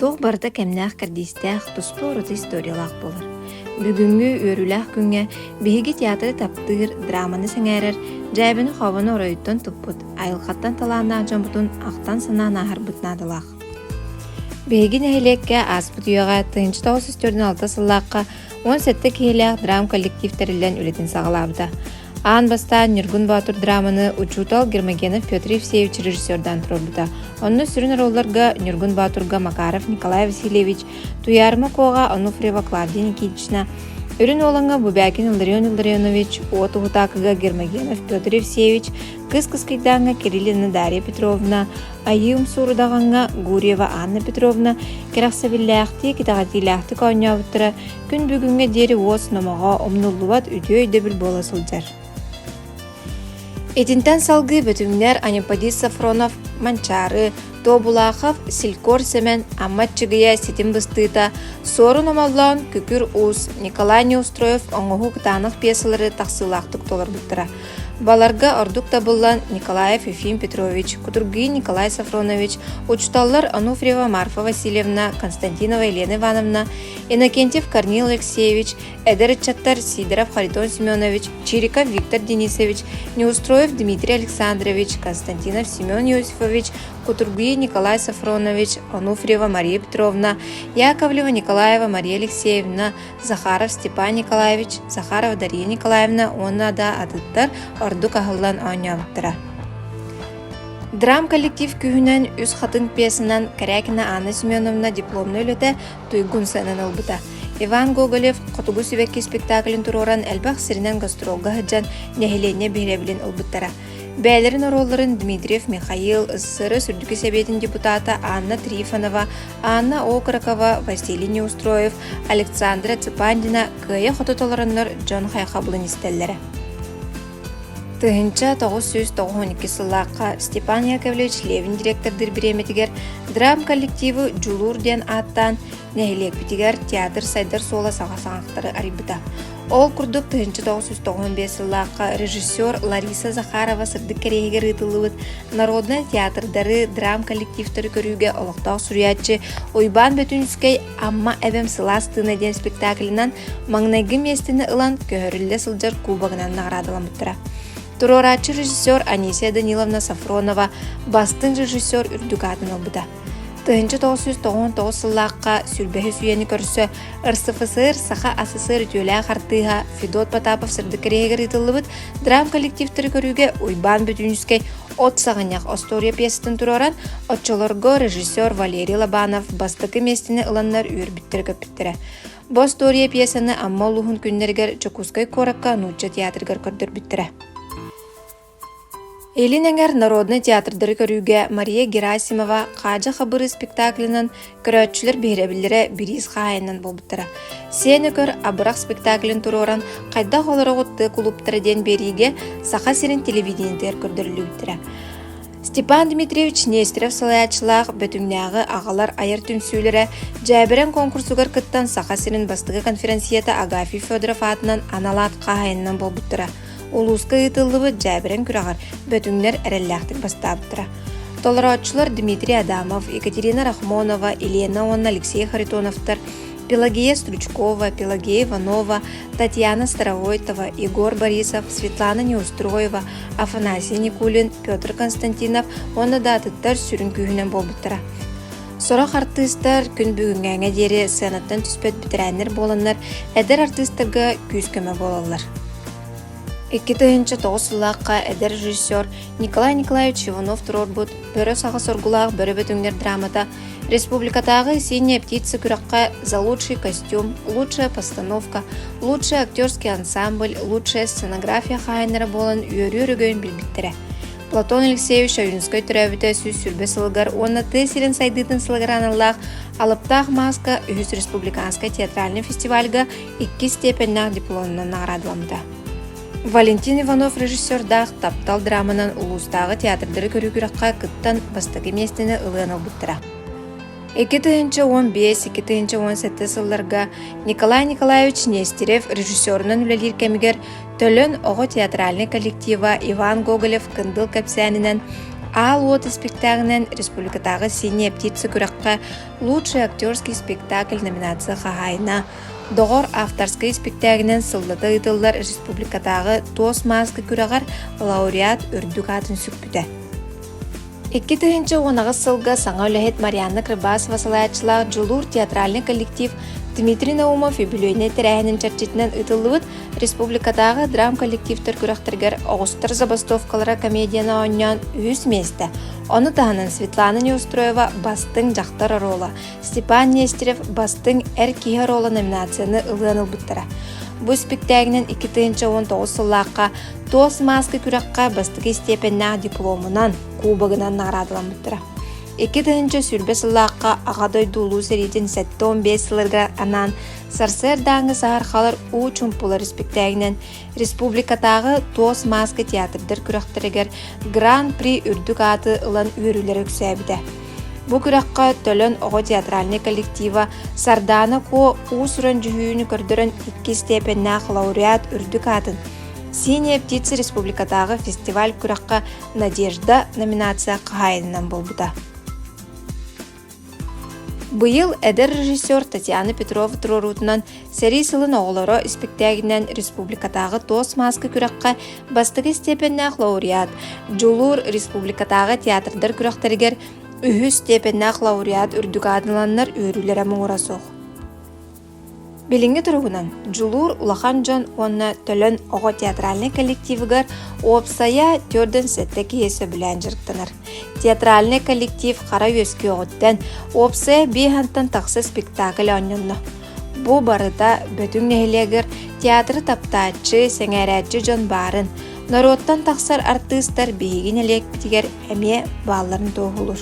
Туох барыта кэмнээх кэрдиистээх, туспа ураты историялаах буолар. Бүгүҥҥү үөрүүлээх күҥҥэ биһиги театры таптыыр, драманы сэҥээрэр, дьээбэни-хообону оройуттан туппут, айылҕаттан талааннаах дьоммутун ахтан-санаан ааһарбыт наадалаах. Биһиги нэһилиэккэ ааспыт үйэҕэ тыһыынча тоҕус сүүс төрдүн алта сыллаахха Уон сэттэ киһилээх драм коллектив тэриллэн үлэтин саҕалаабыта. Аан бастаан Ньургун Боотур драманы учуутал Гермогенов Петр Евсеевич режиссердаан туруорбута. Онно сүрүн роллорго Ньургун Боотурга Макаров Николай Васильевич, Туйаарма Куоҕа Онуфриева Клавдия Никитична, Үрүн Уолаҥа Бубякин Илларион Илларионович, Уот Уһутаакыга Гермогенов Петр Евсеевич, Кыс Кыскыйдааҥҥа Кириллина Дарья Петровна, Айыым Суурудаҕаҥҥа Гурьева Анна Петровна кэрэхсэбиллээхтик, итэҕэтиилээхтик оонньообуттара күн бүгүҥҥэ диэри уос номоҕо умнуллубат үтүө өйдөбүл буола сылдьар. Итинтэн салгыы бөтүҥнэр Анеподис Сафронов Манчаары, Тобулахов Силькор Сэмэн Амма Чыгыйа ситим быстыыта, Суорун Омоллоон, Күкүр Уус, Николай Неустроев оҥоһуу кытаанах пьесалары тахсыылаахтык толорбуттара. Баларга ордук табыллан Николаев Ефим Петрович, Кутургин Николай Сафронович, учутталлар Ануфриева Марфа Васильевна, Константинова Елена Ивановна, Иннокентьев Корнил Алексеевич, эдэр ыччаттар Сидоров Харитон Семенович, Чириков Виктор Денисович, Неустроев Дмитрий Александрович, Константинов Семен Иосифович, Кутургин Николай Сафронович, Ануфриева Мария Петровна, Яковлева Николаева Мария Алексеевна, Захаров Степан Николаевич, Захарова Дария Николаевна уонна да атыттар ордук аһыллан оонньообуттара. Драм коллектив күһүнэн үс хатын пьесанан Карякина Анна Семеновна дипломна үлэтэ туйгун сыанан ылбыта. Иван Гоголев Хотугу сибэкки спектаклин туруоран элбэх сиринэн гастролга сылдьан нэһилиэнньэ биһирэбилин ылбыттара. Бэйэлэрин оруолларын Дмитриев Михаил, ССРС Үрдүкү Сэбиэтин депутата Анна Трифонова, Анна Окрокова, Василий Неустроев, Александра Цыпандина кыайа-хото толороннор дьон хайхабылын истэллэрэ. Тыһынча 992 сыллаахха Степан Яковлевич Левин директордыр бириэмэтигэр драм коллективы «Дьулуур» диэн ааттаан нэһилиэкпитигэр театр сайдар суола саҕа саҕахтары арыйбыта. Ол курдук, тыһыынча тоҕус жүз тоҕуһун биэс сыллаахха режиссер Лариса Захарова сырдык кэриэһигэр ыытыллыбыт народнай театрдары, драм коллективтары көрүүгэ олохтоох суруйааччы Уйбаан Бөтүнскэй «Амма эбэм сылаас тыына» диэн спектаклынан маҥнайгы миэстэни ылан көһөрүллэ сылдьар кубогынан наҕараадаламмыттара. туруорааччы режиссер Анисия Даниловна Сафронова бастыҥ режиссер үрдүк аатын ылбыта. Тыһынча тоҕус сүүс тоҕон тоҕус сыллаахха сүрбэһис үйэни көрсө РСФСР Саха СССР үтүөлээх артыыһа Федот Потапов сырдык кэриэһигэр ыытыллыбыт драм коллективтары көрүүгэ Уйбаан Бүтүүнүскэй от саҕанньах остуоруйа пьесатын туруоран, оччолорго режиссер Валерий Лобанов бастакы миэстэни ыланнар үөрбүттэрэ көппүттэрэ. Бу остуоруйа пьесаны Амма улууһун күннэригэр Дьокуускай куоракка нуучча театрыгар көрдөрбүттэрэ. Илин эҥэр народнай театрдары көрүүгэ Мария Герасимова Хаадьа Хабыры спектаклынан көрөөччүлэр биһирэбиллэрэ бириис хаайынан буолбуттара. Сен Өкөр Абырах спектаклин туруоран хайдах олороҕут кулуптара диэн биэриигэ Саха сирин телевидениетигэр көрдөрүллүбүттэрэ. Степан Дмитриевич Нестеров салайааччылаах Бөтүҥнээҕи аҕалар айар түмсүүлэрэ дьээбэрэн куонкурсугар кыттан Саха сирин бастакы конференцията Агафий Федоров аатынан анал аат хаһаайынынан буолбуттара. Улууска ыытыллыбыт дьээбэрэн күрэҕэр Бөтүҥнэр эрэллээхтик бастаабыттара. Толорооччулар Дмитрий Адамов, Екатерина Рахмонова, Елена уонна Алексей Харитоновтар, Пелагея Стручкова, Пелагея Иванова, Татьяна Старовойтова, Егор Борисов, Светлана Неустроева, Афанасий Никулин, Петр Константинов уонна да атыттар сүрүн күүһүнэн буолбуттара. Сорох артыыстар күн бүгүҥҥээҥэ диэри сценаттан түспэт бэтэрээннэр буоланнар, эдэр артыыстарга күүс-көмө буолаллар. Икки тыһыынча тоҕус сыллаахха эдэр режиссер Николай Николаевич Иванов туруорбут «Бөрө саҕа соргулаах бөрө бөтүҥнэр» драмата Республикатааҕы «Синяя птица» күрэххэ «За лучший костюм», «Лучшая постановка», «Лучший актерский ансамбль», «Лучшая сценография» хаһаайыннара буолан үөрүү өрөгөйүн билбиттэрэ. Платон Алексеевич Ойуунускай төрөөбүтэ сүүс сүүрбэ сылыгар уонна тыа сирин сайдыытын сылыгар аналлаах Алыптаах мааска үһүс республиканскай театральнай фестивальга иккис степеннээх дипломунан наградыламмыта. Валентин Иванов режиссердаах «Таптал» драманан улуустааҕы театрдары көрүү күрэххэ кыттан бастакы миэстэни ылыан ылбыттара. Икки тыһыынча уон биэс, икки тыһыынча уон сэттэ сылларга Николай Николаевич Нестерев режиссерунан үлэлиир кэмигэр Төлөн оҕо театральнай коллектива Иван Гоголев-Кындыл кэпсээнинэн Аал уот испиктээҕинэн республикатааҕы «Синие птицы» күрэххэ лучший актерский спектакль номинация хаһаайына Доҕор авторскай испиктээгинэн сыллата ыытыллар республикатааҕы туос мааска күрэҕэр лауреат үрдүк аатын сүкпүтэ. Икки тыһыынча уон аҕыс сылга саҥа үлэһит Марианна Крыбасова салайааччылаах Дьулуур театральный коллектив Дмитрий Наумов үбүлүөйнэй тэрээһинин чэрчитинэн ыытыллыбыт республикатааҕы драм коллективтар күрэхтэригэр оҕустар забастовкалара комедияны оонньоон үһүс миэстэ, ону таһынан Светлана Неустроева «Бастыҥ дьахтар оруола» Степан Нестерев бастыҥ Эр киһи оруола номинацияны ылыан ылбыттара. Бу испиктээгинэн икки тыһыынча уон тоҕус сыллаахха Туос мааска күрэххэ бастакы истиэпэннээх дипломунан, кубогынан наградаламмыттара. Икки тыһыынча сүүрбэ сыллаахха Аҕа дойду Улуу сэриитин сэттэ он биэс сылларга анаан сарсыардааҥҥы саһархалар уу чумпулар испиктээгинэн Республикатааҕы Туос мааска театрдар күрэхтэригэр Гран-при үрдүк ааты ылан үөрүүлэрэ үксээбитэ. Бу күрэххэ Төлөн оҕо театральнай коллектива Сардаана Ко уус-уран дьүһүйүүнү көрдөрөн икки степеннээх лауреат үрдүк аатын Синяя птица республикатааҕы фестиваль күрэххэ «Надежда» номинация хаһаайынынан буолбута. Быйыл эдэр режиссер Татьяна Петрова туруоруутунан сэрии сылын оҕолоро испиктээгинэн республикатааҕы туос мааска күрэххэ бастакы истиэпэннээх лауреат, Дьулуур республикатааҕы театрдар күрэхтэригэр үһүс стиэпэннээх лауреат үрдүк аадыланнар үөрүүлэрэ муҥура суох. Билиҥҥи туругунан Дьулуур улахан дьон уонна Төлөн оҕо театральнай коллективыгар уопсайа түөрдэн сэттэ киһи сөбүлээн дьарыктанар. Театральнай коллектив хара үөскүөҕүттэн уопсайа биэһэнтэн тахса спектакль оонньонно. Бу барыта Бөтүҥ нэһилиэгэр театры таптааччы, сэҥээрээччи дьон баарын, норуоттан тахсар артыыстар биһиги нэһилиэкпитигэр эмиэ баалларын туоһулуур